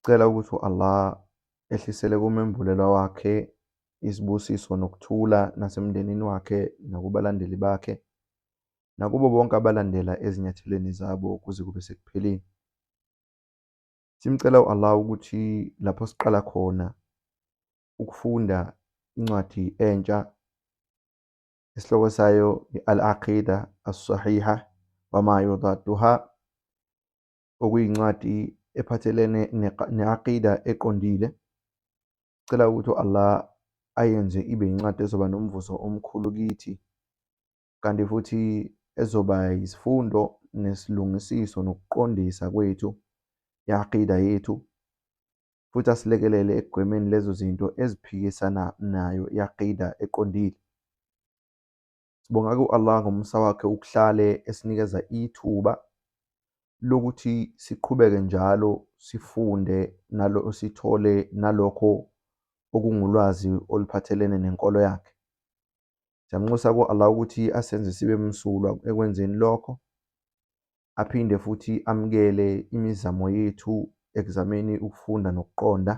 Sicela ukuthi u-Allah ehlisele komembulelwa wakhe izibusiso nokuthula nasemndenini wakhe nakubalandeli bakhe nakubo bonke abalandela ezinyathelweni zabo kuze kube sekupheleni. Simcela u-Allah ukuthi lapho siqala khona ukufunda incwadi entsha isihloko sayo i-Al-Aqida As-Sahiha Wama Yudaduha okuyincwadi ephathelene ne-aqida eqondile. Cela ukuthi u-Allah ayenze ibe incwadi ezoba nomvuzo omkhulu kithi, kanti futhi ezoba yisifundo nesilungisiso nokuqondisa kwethu i-aqida yethu, futhi asilekelele ekugwemeni lezo zinto eziphikisana nayo i-aqida eqondile. Sibonga ku-Allah ngomusa wakhe ukuhlale esinikeza ithuba lokuthi siqhubeke njalo sifunde nalo sithole nalokho okungulwazi oluphathelene nenkolo yakhe. Siyamnxusa ku-Allah ukuthi asenze sibe msulwa ekwenzeni lokho, aphinde futhi amukele imizamo yethu ekuzameni ukufunda nokuqonda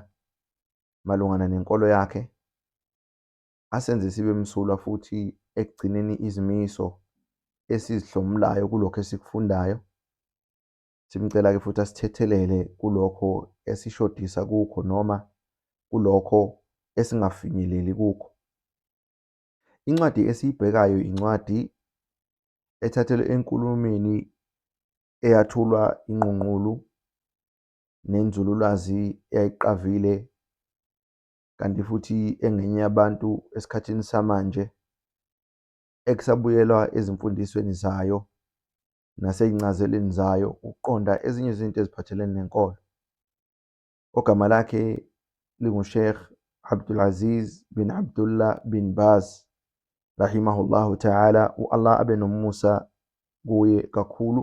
malungana nenkolo yakhe. asenze sibe msulwa futhi ekugcineni izimiso esizihlomulayo kulokho esikufundayo. Simcela-ke futhi asithethelele kulokho esishodisa kukho noma kulokho esingafinyeleli kukho. Incwadi esiyibhekayo incwadi ethathelwe enkulumeni eyathulwa inqunqulu nenzululwazi eyayiqavile kanti futhi engenye yabantu esikhathini samanje ekusabuyelwa ezimfundisweni zayo nasey'ncazelweni zayo ukuqonda ezinye izinto eziphathelene nenkolo. Ogama lakhe linguSheikh Abdulaziz bin Abdullah bin Baz rahimahullahu ta'ala, u-Allah abe nomusa kuye kakhulu.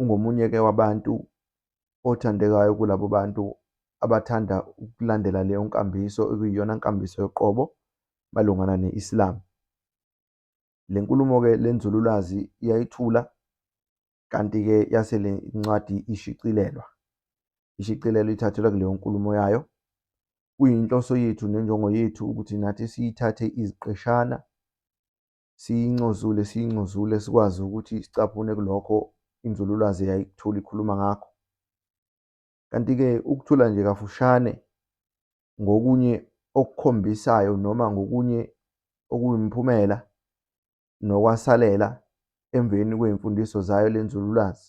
ungomunye-ke wabantu othandekayo kulabo bantu abathanda ukulandela leyo nkambiso okuyiyona nkambiso yoqobo malungana ne-Islam. Le nkulumo-ke le nzululwazi iyayithula kanti-ke yase le ncwadi ishicilelwa. Ishicilelo ithathelwa kuleyo nkulumo yayo. Kuyinhloso yethu nenjongo yethu ukuthi nathi siyithathe iziqeshana siyincozule siyincozule sikwazi ukuthi sicaphune kulokho inzululwazi yayikuthula ikhuluma ngakho. Kanti-ke ukuthula nje kafushane ngokunye okukhombisayo noma ngokunye okuwumphumela nokwasalela emveni kwey'mfundiso zayo le nzululwazi.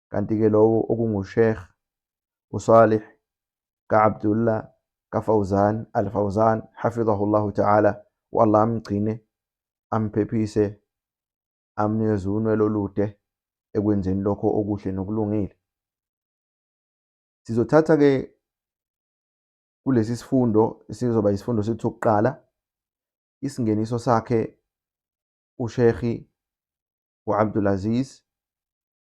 kanti-ke lowo okunguSheikh uSalih ka-Abdullah kaFawzan al-Fawzan hafidhahullahu ta'ala u-Allah amgcine amphephise amnikeze unwele olude ekwenzeni lokho okuhle nokulungile sizothatha-ke kulesi sifundo sizoba isifundo sethu sokuqala isingeniso sakhe uSheikh uAbdul Aziz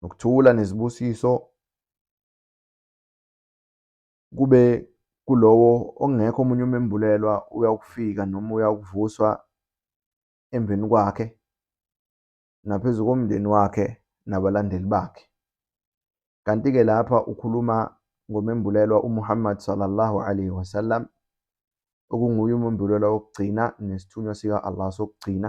nokuthula nezibusiso kube kulowo ongekho omunye umembulelwa uyawukufika noma uyawukuvuswa emveni kwakhe naphezu komndeni wakhe nabalandeli bakhe kanti-ke lapha ukhuluma ngomembulelwa uMuhammad sallallahu alaihi wasallam okunguye umembulelwa wokugcina nesithunywa sika-Allah sokugcina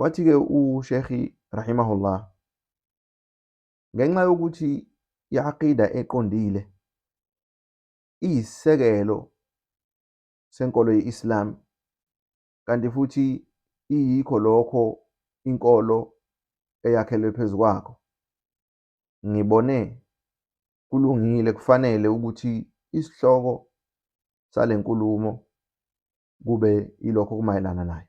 Wathi-ke uShekhi rahimahullah, ngenxa yokuthi i-aqida eqondile iyisisekelo senkolo ye-Islam kanti futhi iyikho lokho inkolo eyakhelwe phezu kwakho. Ngibone kulungile kufanele ukuthi isihloko sale nkulumo kube ilokho kumayelana nayo.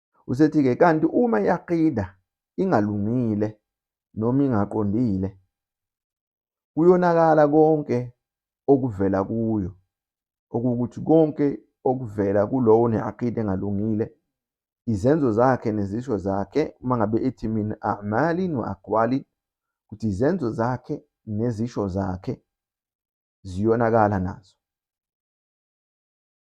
Usethi-ke, kanti uma i-aqida ingalungile noma ingaqondile, kuyonakala konke okuvela kuyo, okuwukuthi konke okuvela kulowo ne-aqida engalungile, izenzo zakhe nezisho zakhe, uma ngabe ethi min a'malin wa aqwalin, ukuthi izenzo zakhe nezisho zakhe ziyonakala nazo.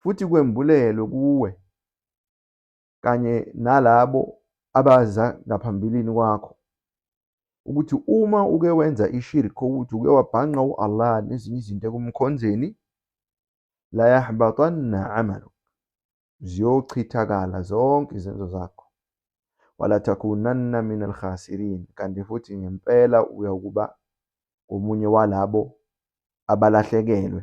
futhi kwembulelwe kuwe kanye nalabo abaza ngaphambilini kwakho ukuthi uma uke wenza ishirk ukuthi uke wabhanqa u-Allah nezinye izinto ekumkhonzeni la yahbatanna amalu ziyochithakala zonke izenzo zakho wala takunanna min alkhasirin kanti futhi ngempela uyakuba omunye walabo abalahlekelwe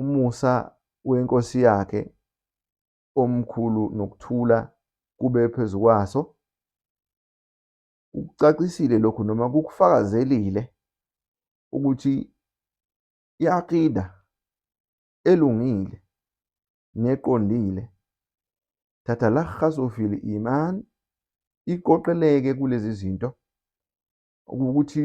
umusa weNkosi yakhe omkhulu nokuthula kube phezu kwaso. Ukucacisile lokhu noma kukufakazelile ukuthi i-aqida elungile neqondile tatalakhasu fil iman iqoqeleke kulezi zinto ukuthi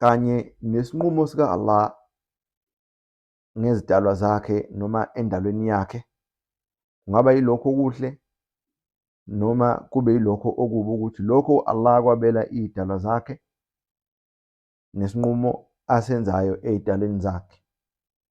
kanye nesinqumo sika Allah ngezidalwa zakhe noma endalweni yakhe kungaba yilokho okuhle noma kube yilokho okubi ukuthi lokho Allah kwabela idalwa zakhe nesinqumo asenzayo ezidalweni zakhe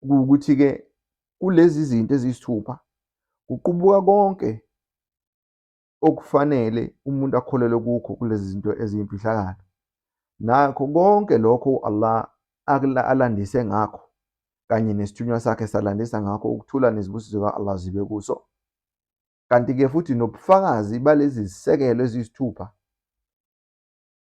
kuwukuthi-ke kulezi zinto eziyisithupha kuqubuka konke okufanele umuntu akholelwe kukho kulezi zinto eziyimfihlakalo nakho konke lokho u-Allah alandise ngakho kanye nesithunywa sakhe salandisa ngakho ukuthula nezibusiso ka-Allah zibe kuso kanti-ke futhi nobufakazi balezi zisekelo eziyisithupha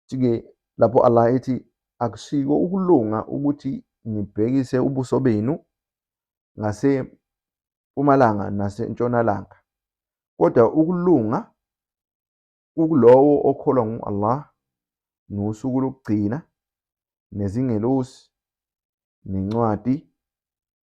Futhi-ke lapho Allah ethi, Akusiko ukulunga ukuthi nibhekise ubuso benu ngasempumalanga nasentshonalanga, kodwa ukulunga kukulowo okholwa ngu-Allah nosuku lokugcina, nezingelosi, nencwadi,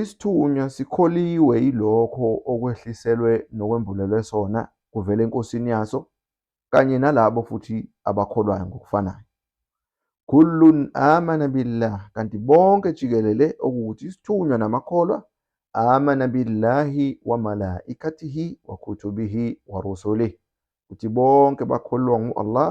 Isithunywa sikholiwe yilokho okwehliselwe nokwembulelwe sona kuvela enkosini yaso, kanye nalabo futhi abakholwayo ngokufanayo. Kullun amana billah, kanti bonke jikelele, okuwukuthi isithunywa namakholwa, amana billahi wa malaikatihi wa kutubihi wa rusulihi, ukuthi bonke bakholwa ngu-Allah,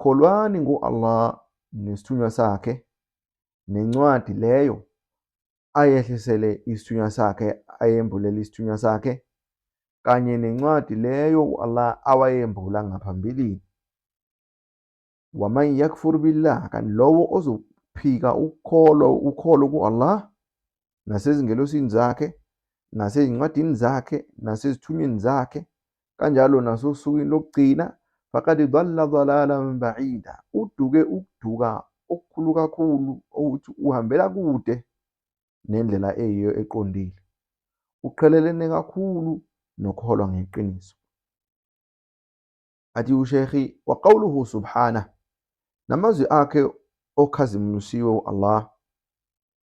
Kholwani ngo-Allah nesithunywa sakhe nencwadi leyo ayehlisele isithunywa sakhe ayembulele isithunywa sakhe kanye nencwadi leyo u-Allah awayembula ngaphambilini waman yakfur billah kanti lowo ozophika ukholo ukholo ku-Allah nasezingelosini zakhe, nasezincwadini zakhe, nasezithunyweni zakhe, kanjalo nasosukwini lokugcina, faqad dalla dalalan ba'ida, uduke ukuduka okukhulu kakhulu okuthi uhambela kude nendlela eyiyo eqondile. Uqhelelene kakhulu nokholwa ngeqiniso. Athi uShekhi waqawuluhu subhana namazwi akhe okhazimulisiwe u-Allah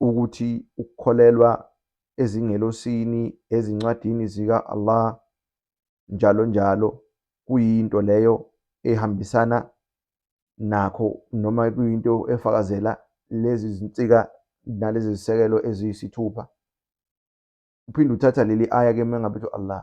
ukuthi ukukholelwa ezingelosini, ezincwadini zika-Allah, njalo njalo, kuyinto leyo ehambisana nakho noma kuyinto efakazela lezi zinsika nalezi zisekelo eziyisithupha. Uphinde uthatha leli aya ke mengabe ethi Allah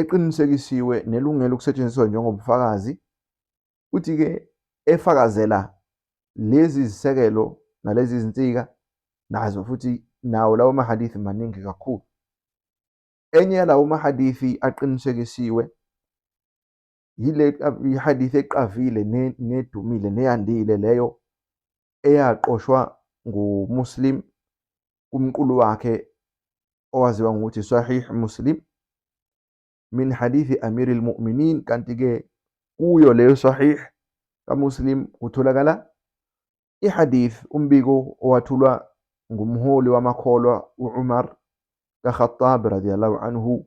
eqinisekisiwe nelungele ukusetshenziswa njengobufakazi futhi-ke efakazela lezi zisekelo nalezi zinsika nazo futhi nawo lawo mahadithi maningi kakhulu enye yalawo mahadithi aqinisekisiwe yile hadith eqavile nedumile neyandile leyo eyaqoshwa nguMuslim kumqulu wakhe owaziwa ngokuthi Sahih Muslim min hadithi Amir al-Mu'minin kanti-ke kuyo leyo Sahih kaMuslim kutholakala ihadith umbiko owathulwa ngumholi wamakholwa u-Umar kaKhattab radiyallahu anhu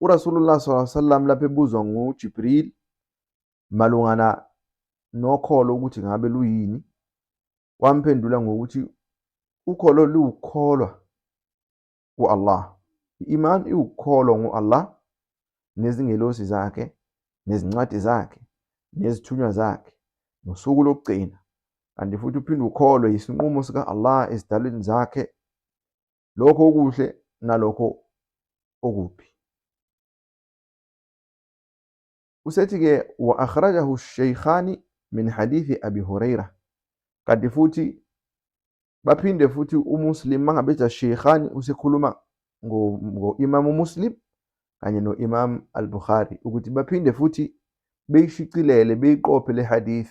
URasulullah sallallahu alaihi wasallam lapho ebuzwa nguJibril malungana nokholo ukuthi ngabe luyini, wamphendula ngokuthi ukholo liwukholwa ku-Allah. I-iman iwukholwa ngu-Allah nezingelosi zakhe nezincwadi zakhe nezithunywa zakhe nosuku lokugcina kanti futhi uphinde ukholwe yisinqumo sika-Allah ezidalweni zakhe lokho okuhle nalokho okubi usethi-ke wa akhrajahu sheikhani min hadithi abi huraira kanti futhi baphinde futhi umuslim mangabe ethi asheikhani usekhuluma ngo-imamu muslim kanye no-imam al-bukhari ukuthi baphinde futhi beyishicilele beyiqophe le hadith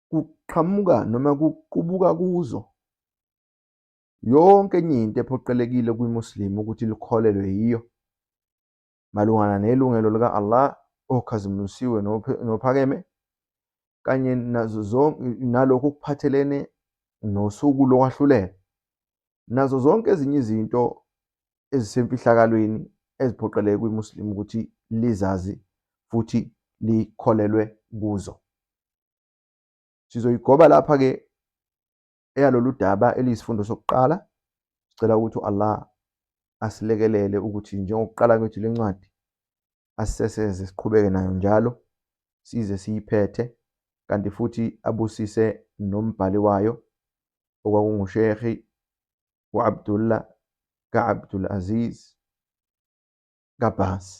kuqhamuka noma kuqubuka kuzo yonke enye into ephoqelekile kwiMuslim ukuthi likholelwe yiyo malungana nelungelo lika-Allah okhazimulisiwe nophakeme kanye nazo zonke nalokho okuphathelene nosuku lokwahlulela nazo zonke ezinye izinto ezisemfihlakalweni eziphoqeleke kwiMuslim ukuthi lizazi futhi likholelwe kuzo. Sizoyigoba lapha-ke eyalolu daba eliyisifundo sokuqala. Sicela ukuthi u-Allah asilekelele ukuthi njengokuqala kwethu le ncwadi asiseseze siqhubeke nayo njalo size siyiphethe kanti futhi abusise nombhali wayo okwakungushehi u-abdullah ka-abdul aziz kabhasi